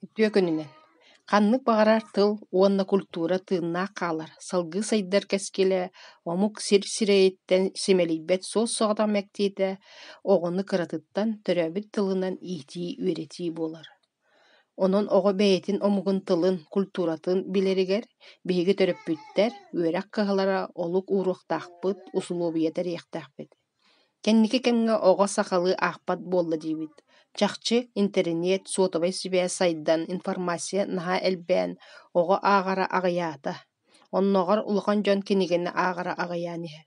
Үтүө күнүнэн! Ханнык баҕарар тыл уонна культура тыыннаах хаалар, салгыы сайдар кэскилэ омук сир сирэйиттэн симэлийбэт суос-соҕотох мэктиэтэ оҕону кыратыттан төрөөбүт тылынан иитии-үөрэтии буолар. Онон оҕо бэйэтин омугун тылын, культуратын билэригэр биһиги төрөппүттэр үөрэх кыһалара олук ууруохтаахпыт, усулуобуйа тэриэхтээхпит Кэнники кэмҥэ оҕо сахалыы аахпат буолла диибит, чахчы интэриниэт, суотабай сибээс сайдан, информация наһаа элбээн, оҕо ааҕара аҕыйаата. Оннооҕор улахан дьон кинигэни ааҕара аҕыйаан иһэр.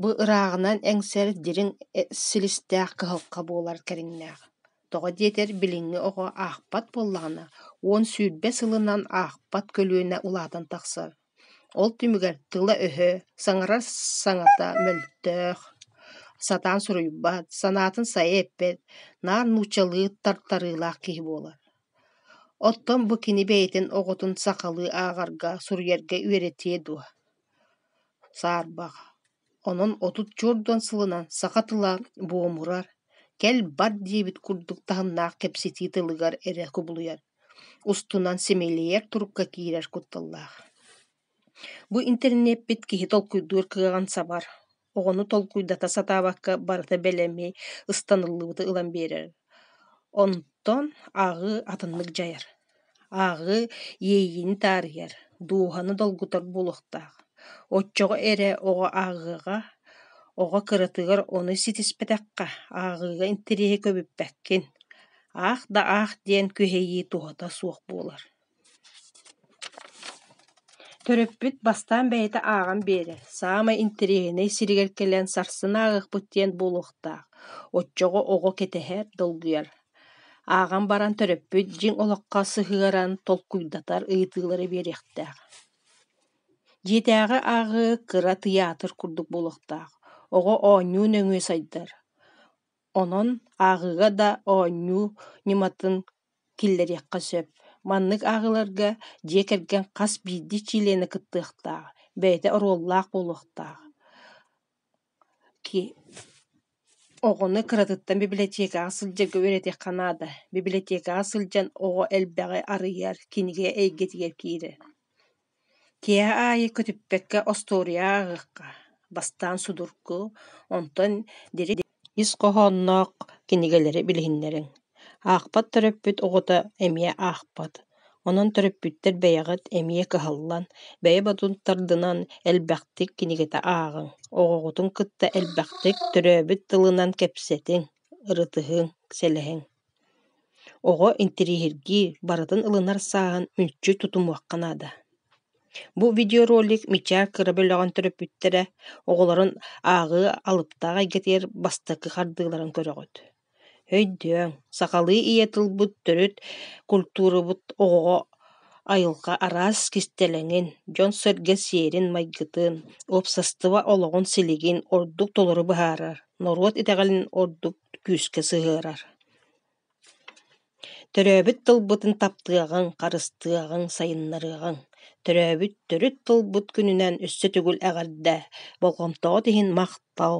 Бу ырааҕынан эҥсэр дириҥ силистээх кыһалҕа буолар кэриҥнээх. Тоҕо диэтэр, билиҥҥи оҕо аахпат буоллаҕына, уон сүүрбэ сылынан аахпат көлүөнэ улаатан тахсар. Ол түмүгэр тыла-өһө, саҥарар саҥата мөлтөөх, сатаан суруйбат, санаатын сайа эппэт, наар нууччалыы тартарыылаах киһи буолар. Оттон бу кини бэйэтин оҕотун сахалыы ааҕарга, суруйарга үөрэтиэ дуо? Саарбах. Онон отут чуордуон сылынан саха тыла буомурар, кэл бар диэбит курдук таһымнаах кэпсэтии тылыгар эрэ кубулуйар Устунан симэлийэр турукка киирэр кутталлаах. Бу интэриниэппит киһи толкуйдуур кыаҕын сабар, оҕону толкуйдата сатаабакка барыта бэлэми, ыстаныллыбыты ылан биэрэр. Онтон ааҕыы атыннык дьайар. Ааҕыы иэйиини таарыйар, дууһаны долгутар буолуохтаах. Оччоҕо эрэ оҕо ааҕыаҕа, оҕо кыратыгар ону ситиспэтэххэ, ааҕыыга интэриэһи көбүппэккин. аах да аах диэн күһэйии туһата суох буолар Төрөппүт бастаан бэйэтэ ааҕан биэрэр, саамай интэриэһинэй сиригэр кэлэн сарсын ааҕыахпыт диэн буолуохтаах, оччоҕо оҕо кэтэһэр, долгуйар. Ааҕан баран төрөппүт дьиҥ олоххо сыһыаран толкуйдатар ыйытыылары биэриэхтээх. Дьиэтээҕи ааҕыы кыра тыйаатыр курдук буолуохтаах, оҕо оонньуу нөҥүө сайдар. Онон ааҕыыга да оонньуу ньыматын киллэриэххэ сөп. Маннык ааҕыыларга дьиэ кэргэн хас биирдии чилиэнэ кыттыахтаах, бэйэтэ оруоллаах буолуохтаах. Оҕону кыратыттан бибилэтиэкэҕэ сылдьарга үөрэтиэххэ наада. Бибилэтиэкэҕэ сылдьан оҕо элбэҕи арыйар, кинигэ эйгэтигэр киирэр. Киэһэ аайы көтүппэккэ остуоруйа ааҕыахха, бастаан судургу, онтон ис хоһоонноох кинигэлэри билиһиннэриҥ. Аахпат төрөппүт оҕото эмиэ аахпат, онон төрөппүттэр бэйэҕит эмиэ кыһаллан, бэйэ-бодун тардынан элбэхтик кинигэтэ ааҕыҥ, оҕоҕутун кытта элбэхтик төрөөбүт тылынан кэпсэтиҥ, ырытыһыҥ, сэлэһиҥ. Оҕо интириэһиргии, барытын ылынар сааһын мүлчү тутумуохха наада. Бу видеоролик Мичээ кыра бөлөҕүн төрөппүттэрэ оҕолорун ааҕыы алыптаах эйгэтигэр бастакы хардыыларын көрөҕүт. Өйдөөҥ, сахалыы ийэ тылбыт, төрүт культурабыт оҕоҕо айылҕа араас кистэлэҥин, дьон-сэргэ сиэрин-майгытын, уопсастыба олоҕун силигин ордук толору быһаарар. норуот итэҕэлин ордук күүскэ сыһыарар. Төрөөбүт тылбытын таптыаҕыҥ, харыстыаҕыҥ, сайыннарыаҕыҥ. Төрөөбүт төрүт тылбыт күнүнэн өссө төгүл эҕэрдэ, болҕомтоҕут иһин махтал.